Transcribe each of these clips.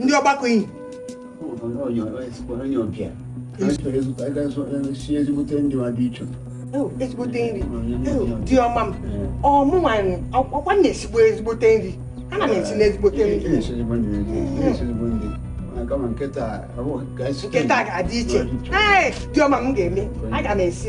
ndị ọgbakọ iyi ezigbote ndị ma dị iche ezigbote nri di ọma m ụmụ nwanyị ọkwa na-esigbo ezigbote nri ana m esi n'ezigbote nri nke taa ga-adị iche ee di ọma m ga-eme aga m esi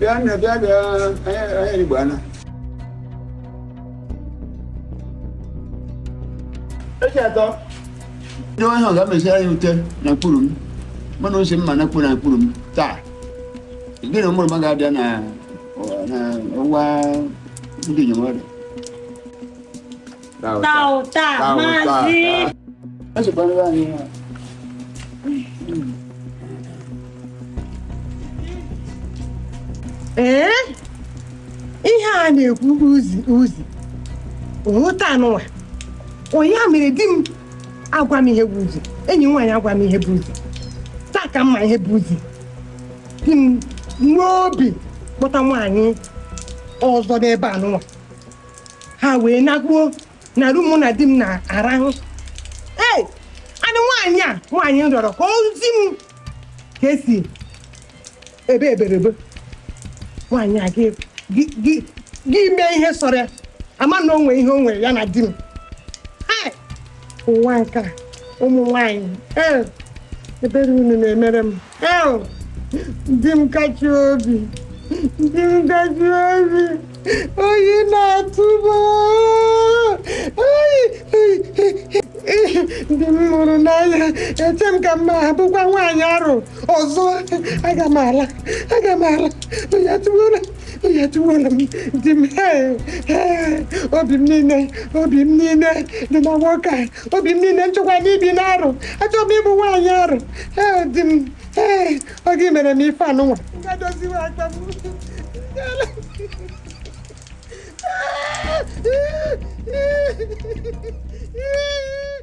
bịa nne bịa bịa anya igbo ana eji atọ ndị onye ahụ ga-emesi anyị ute na mkpụrụ m mana ose mma na mkpụrụ na mkpụrụ m taa gị na mụrụ m ga-abịa na ọwa ndị njem ọrịa Tauta, mazi. Acha bwana bwana. Ee, ihe a na-ekwu uzi uzi ọ taa anụwa onye a mere di m agwa m ihe bụ uzi enyi m nwaanyị agwa m ihe bụ uzi taa ka m ma ihe bụ uzi di m nwee obi kpọta nwaanyị ọzọ n'ebe anụwa ha wee nakpuo na room mụ na di m na-arahụ ee anụ nwaanyị a nwaanyị m rịọrọ ka o zi m ka e si ebe eberebe nwaanyị a gị- gị- gị gị mee ihe sọrọ ya ama na o nwee ihe o nwere ya na di m Hai! ụwa nke a ụmụ nwaanyị ee ebere unu na-emere m di m kachi obi di m kachi obi oyi na-atụ m oyi di m m hụrụ n'anya eche m ka m ma abụkwa nwaanyị arụ ọzọ aga m ala aga m ala oyi atụgbuola oyi atụwola m di m ee, ee, obi m niile obi m niile dị na nwoke a obi m niile m chọkwa n'ibi n'arụ achọrọ m ịbụ nwaanyị arụ ee di m ee ọ gị mere m ife anụnwa gadoziwe aka m Ee, ee, ee.